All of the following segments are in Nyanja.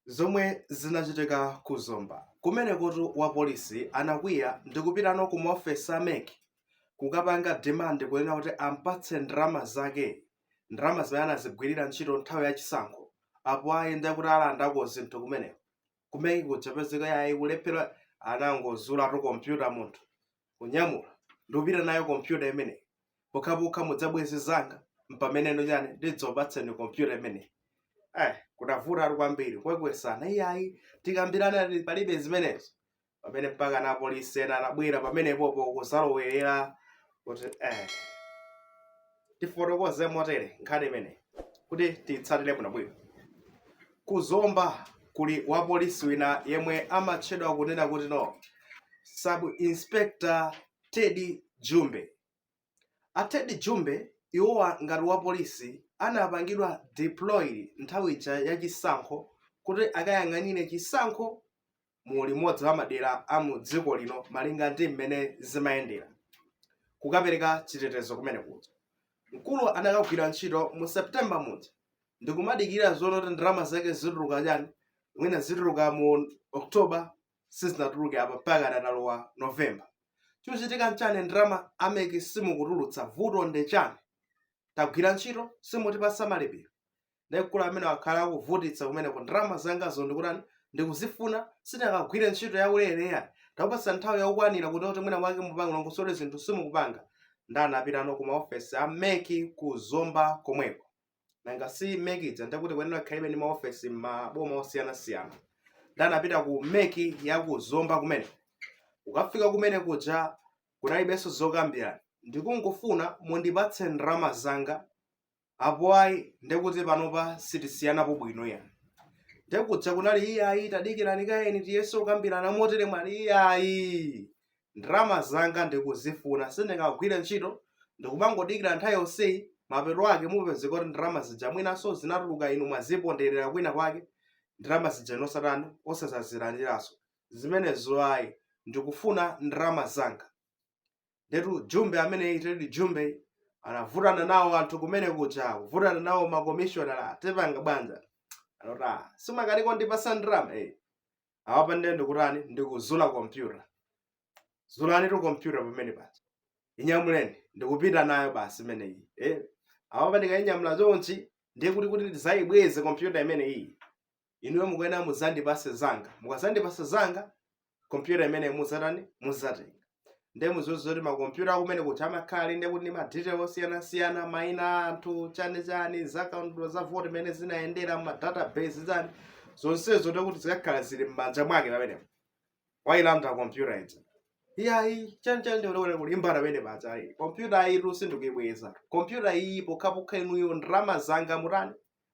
zomwe zinachitika ku Zomba. Kumenekotu wapolisi anakwiya ndi kupitano ku maofesi a mec kukapanga demand kunena kuti ampatse ndalama zake, ndalama zimene anazigwirira ntchito nthawi ya chisankho. Apo ayi ndiye kuti alandako zinthu kumeneko. Kumene kuja kupezeka yayi kulephera anangozulatu kompyuta munthu kunyamula ndikupita nayo kompyuta imeneyi pokhapokha mudzabweze zanga mpameneno chani ndidzakupatseni kompyuta imeneyi eh kunavutatu kwambiri kukwekwesana iyayi tikambirane ati palibe zimenezo pamene mpaka na polisi ena anabwera pamenepopo kuzalowerera kuti eh tifotokoze motere nkhani imeneyi kuti tiyitsatire bwinobwino ku zomba kuli wapolisi wina yemwe amatchedwa kunena kutino sub inspector teddy jumbe a teddy jumbe iwowa ngati wapolisi anapangidwa deployed nthawi ija ya chisankho kuti akayang'anire chisankho mu limodzi la madera a mu dziko lino malinga ndi mmene zimayendera kukapereka chitetezo kumene kuja mkuluyu anakagwira ntchito mu september muja ndikumadikirano kunena kuti ndalama zake zituluka chani mwina zituluka mu october sizinatuluke apa mpakana talowa november chochitika nchani ndalama ameki simukutulutsa vuto ndi chani tagwira ntchito simutipatsa malipiro ndiye mkulu ameneyu wakhala akuvutitsa kumeneko ndalama zangazo ndikutani ndikuzifuna sitingagwire ntchito ya ulere yani takupatsani nthawi yokwanira kuti kuti mwina mwake mupange mulongosole zinthu simukupanga ndiye anapitano ku maofesi a meki ku zomba komweko nanga si meki ija ndikuti kuyenera kukhalabe ndi maofesi m'maboma osiyanasiyana ndiye anapita ku meki ya ku zomba kumene kukafika kumene kuja kunalibenso zokambirana ndikungofuna mundipatse ndalama zanga apo ayi ndekuti panopa sitisiyanapo bwino ya ndekuja kunali iyayi tadikirani kaye tiyese kukambirana motere ali iyayi ndalama zanga ndikuzifuna sindingagwire ntchito ndikumangodikira nthawi yonseyi mapeto ake kupezeka kuti ndalama zija mwinanso zinatuluka inu mwaziponderera kwina kwake ndalama zija ine osatani osadzazilandiranso zimenezo ayi ndikufuna ndalama zanga ndetu jumbe ameneyi tedi jumbe anavutana nawo anthu kumene kuja kuvutana nawo makomishonala tipanga bwanji anati ah simukundipatsa ndalama eh awapa ndiye ndikutani ndikuzula kompyuta zulanitu kompyuta pamene paja inyamuleni ndikupita nayo basi imeneyi eh awapa ndikainyamula chonchi ndiye kuti kuti ndidzayibweze kompyuta imeneyi inuyo mukuyenera mudzandipase zanga mukadzandipasa zanga kompyuta imeneyi mudzatani mudzatenga nde mudziwe zoti makompyuta aku MEC kuti amakhala ali ndekuti ndi madetail osiyanasiyana maina a anthu chani chani zakaundula za vote imene zinayendera mu database chani zonsezo ndekuti zikakhala zili m'manja mwake pamenepo wailanda kompyuta ija iyayi chani chani ndikuti kulimbana pamene paja ayi kompyuta ayitu sindikuyibweza kompyuta iyi pokhapokha inuyo ndalama zanga mutani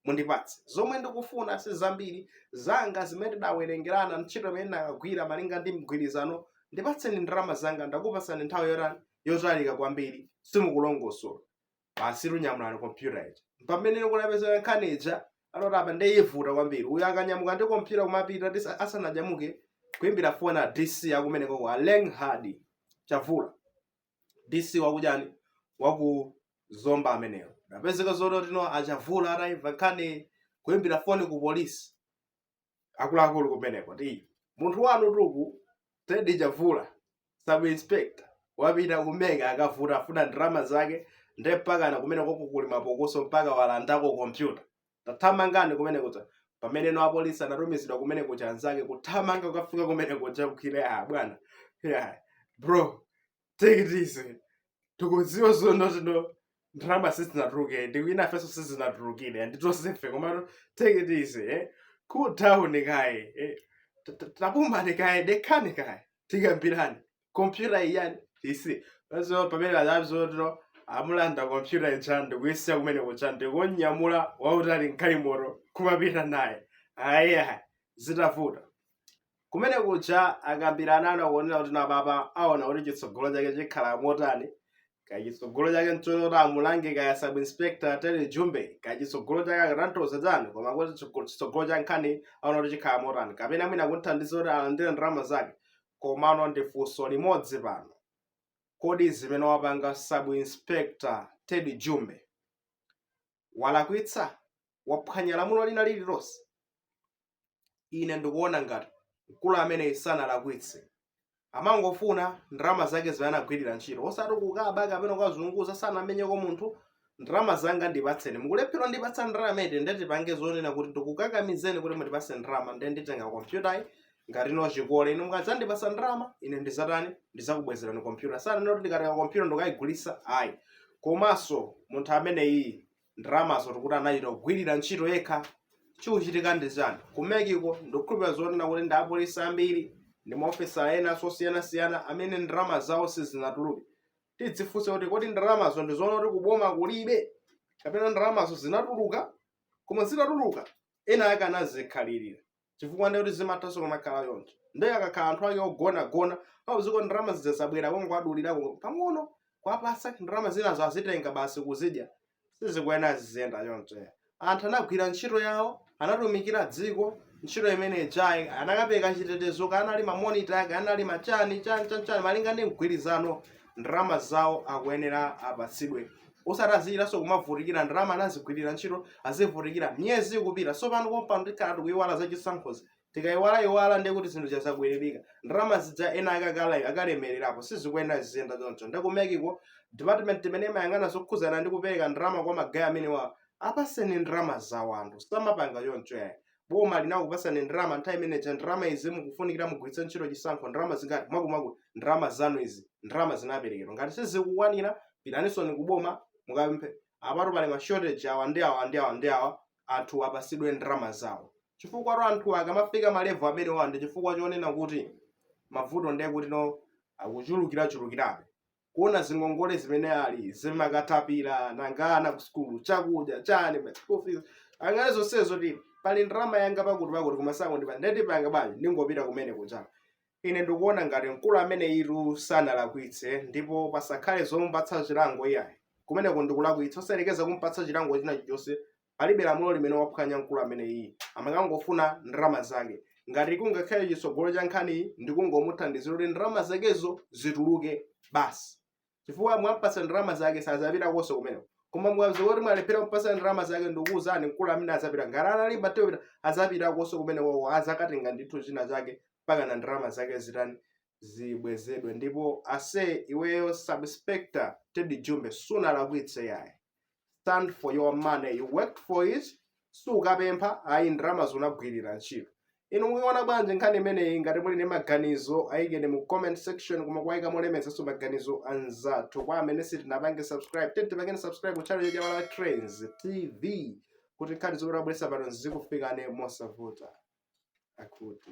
mundipatse. Zomwe ndikufuna si zambiri, zanga zimene tidawerengerana ntchito imene ndinakagwira malinga ndi mgwirizano. Ndipatseni ndalama zanga, ndakupatsani nthawi yotani yotalika kwambiri, simukulongosola. Basi kunyamula kompyuta ija. Mpamene kunapezeka nkhani ija, anati apa ndiye ivuta kwambiri. Uyu akanyamuka ndi kompyuta kumapita tisa- asananyamuke kuimbira foni a DC akumeneko a Lenghard Chavula. DC wakuchani waku Zomba ameneyo. Napezeka zonoti no a Chavula atayimva nkhani kuimbira foni ku polisi. Akuluakulu kumeneko ti munthu wanutu uku Teddy Chavula sub inspector wapita ku MEC akuvuta akufuna ndalama zake nde mpakana kumeneku kuli mapokoso mpaka walandako kompyuta tathamangani kumene kuja pamene no apolisi anatumizidwa kumene kuja anzake kuthamanga kukafika kumene kuja kukhire ah bwana yeah. bro take it easy tikudziwa zonoti no ndalama sizinatuluke ndikuti nafenso sizinatulukire ndi tonsefe komano take it easy eh? cool down kaye eh? Ta- ta- tapumani kaye dekhani kaye tikambirane kompyuta iyayi isiye so pamene adadzatero amulanda kompyuta ija ndikuyisiya kumene kuja ndikunyamula wautali m'galimoto kumapita naye aya zitavuta kumene kuja akambirana anakuonera kuti napapa aona kuti chitsogolo chake chikhala motani kachitsogolo chake nchonoti amulange kaya sub inspector Teddy Jumbe kachitsogolo chake akatanthauza chani koma kuti chitsogo- chitsogolo cha nkhani aona kuti chikhala motani kapena mwina kumthandiza kuti alandire ndalama zake Komano ndi funso limodzi pano, kodi zimene wapanga Sub Inspector Ted Jumbe walakwitsa? Waphwanya lamulo lina lililonse? Ine ndikuona ngati mkulu ameneyi sanalakwitse. Amangofuna ndalama zake zimene anagwirira ntchito, osati kukaba kapena kukazunguza, sanamenyeko munthu, ndalama zanga ndipatseni mukulephera ndipatsa ndalama eti nde tipange zonena kuti ndikukakamizeni kuti mundipatse ndalama nde nditenga kompyutayi ngati no chikole inu mukadzandipasa ndalama ine ndizatani ndizakubwezerani kompyuta sananena kuti ndikatenga kompyuta ndikayigulitsa ayi komanso munthu ameneyi ndalamazo tikuti anachita kugwirira ntchito yekha chikuchitika ndi chani ku MEC-ko ndikukhulupirira zonena kuti ndi apolisi ambiri ndi maofesala ena osiyana-siyana amene ndalama zawo sizinatuluke tidzifunse kuti kodi ndalamazo ndi zoona kuti kuboma kulibe kapena ndalamazo zinatuluka koma zitatuluka ena ake anazikhalirira chifukwa ndiye kuti zimathanso kumakhala choncho ndiye akakhala anthu ake ogonagona pamziko ndalama zija zabwera kungowadulirako pang'ono kuwapatsa ndalama zinazo azitenga basi kuzidya sizikuyenera ziziyenda choncho anthu anagwira ntchito yawo anatumikira dziko ntchito imene ijayi anakapereka chitetezo kanali mamonita ake anali machani chani chani chani malinga ndi mgwirizano ndalama zawo akuyenera apatsidwe osati azichitanso kumavutikira ndalama anazigwirira ntchito azivutikira miyezi ikupita tsopano kompano tikhala tikuyiwala za chisankhozi Tikaiwalaiwala ndiye kuti zinthu zija zabwerereka. Ndalama zija ena ake akala- akalemererapo sizikuyenera ziziyenda choncho. Ndiye ku MEC-ko department imene imayang'ana zokhudzana ndi kupereka ndalama kwa magayi amenewa apaseni ndalama zawo anthu samapanga choncho yayi. Boma linakupasani ndalama nthawi imene ija ndalama izi mukufunikira mugwiritse ntchito chisankho ndalama zingati mwakuti mwakuti ndalama zanu izi ndalama zinaperekedwa. Ngati sizikukwanira pitaninso ku boma mukapemphe. Apatu pali ma shortage awa ndi awa ndi awa ndi awa anthu apasidwe ndalama zawo chifukwatu anthu akamafika malevel amenewa ndi chifukwa chonena kuti mavuto ndiye kuti akuchulukirachulukirabe kuona zingongole zimene ali zimakatapira nanga ana ku sukulu chakudya chani ma school fees angalole zonsezo zoti pali ndalama yanga pakuti pakuti koma sakundipatsa ndiye ndipanga bwanji ndingopita kumene kuja Ine ndikuona ngati mkulu ameneyitu sanalakwitse ndipo pasakhale zomupatsa chilango iyayi. Kumeneko ndi kulakwitsa osayerekeza kumupatsa chilango china chilichonse palibe lamulo limene waphwanya mkulu ameneyiyi. Amakangofuna ndalama zake. Ngati kungakhale chitsogolo cha nkhaniyi ndi kungomuthandizira kuti ndalama zakezo zituluke basi. chifukwa mwampatsa ndalama zake sazapitakonso kumeneko koma mwadziwa kuti mwalephera kumpatsa ndalama zake ndikuwuzani mkulu amene azapita ngati analimba teyo kupita azapitakonso kumeneko azakatenga ndithu china chake mpaka na ndalama zake zitani zibwezedwe ndipo ase iweyo sub inspector teddy jumbe sunalakwitse yayi stand for your money you worked for it sukapempha ayi ndalama zo unagwirira ntchito inu mukuiona bwanji nkhani imeneyi ngati muli ndi maganizo ayikeni mu comment section koma kuwayika molemekezanso maganizo anzathu kwa amene sitinapange subscribe tete tipangeni subscribe ku channel ya malawi trends tv kuti nkhani zomwe tabweretsa pano zikufikani mosavuta akuti